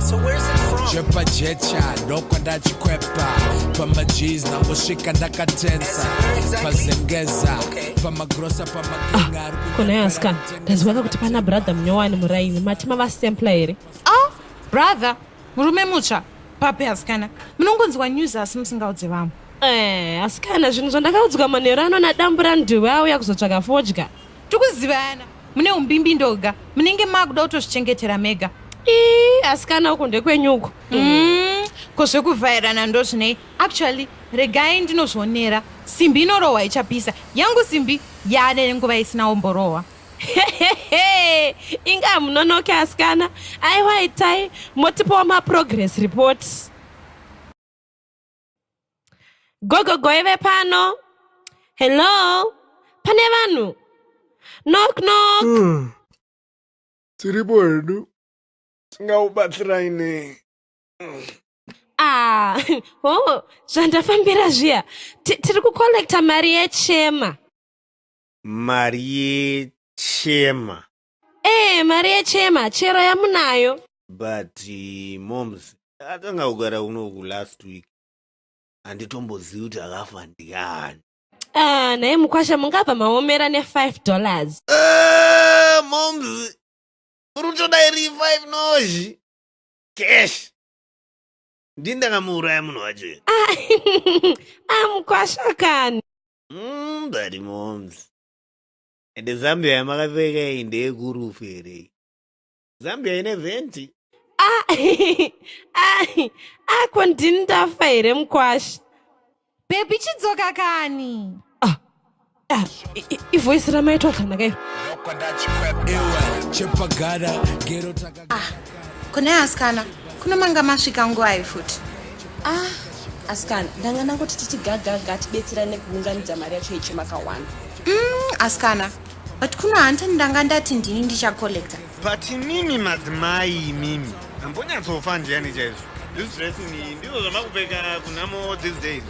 So where's it from? Chepa checha ndokwa ndachikwepa pamajeez nangosvika ndakatensa pazengeza pamagrosa pamakinga ari kunyepera Kona yaska. kutenga Ndaziwaka kuti pana brother munyowani muraini. Mati mava sampler here? Ah, brother, murume mutsva. Papi asikana. Munongonzwa news asi musingaudze vamwe. Eh, asikana zvinhu zvandakaudzwa manheru ano nadambura nduwe auya kuzotsvaka fodya. tikuzivana mune umbimbi ndoga munenge makuda kutozvichengetera mega ii asikana uko ndekwenyu uko mm, ko zvekuvhairana ndozvinei actually regai ndinozvionera simbi inorohwa ichapisa yangu simbi yaane nguva isina omborohwa inga hamunonoke asikana aiwa itai motipawo maprogress reports Gogo goive pano. Hello. Pane vanhu. Knock knock. Hmm. Tiripo hedu. Tingaubatsirai nei? Ah, oh, zvandafambira zviya. Tiri kucollecta mari yechema. Mari yechema. ee mari yechema chero yamunayo but uh, moms atanga kugara unoku last week handitombozivi kuti akafa ndiani ah, nhai mukwasha mungabva maomera ne5 dollars uh, moms urutoda iri 5 nozhi cash ndini ndakamuuraya munhu wacho ah, amukwasha ah, kani mm, but moms Ende Zambia yamakapfeka iyi ndeyekurufu here iyi? Zambia ine venti? Ah, ah, ah, ko ndini ndafa here mukwasha? Baby chidzoka kani. Ah, ah, ivoice ramai twakanaka iro. Chepa gara, gero taka. ah kune asikana kuno manga masvika nguvai futi ah asikana ndanga ndangoti tichigagaga tibetserane kuunganidza mari yacho yeche makawana mm, asikana but kuno hanti ndanga ndati ndini ndichacollecta but mimi madzimai imimi ambonyatsofa ndiyani chaizvo this dressing iyi ndizvo zvamakupfeka kunamo these days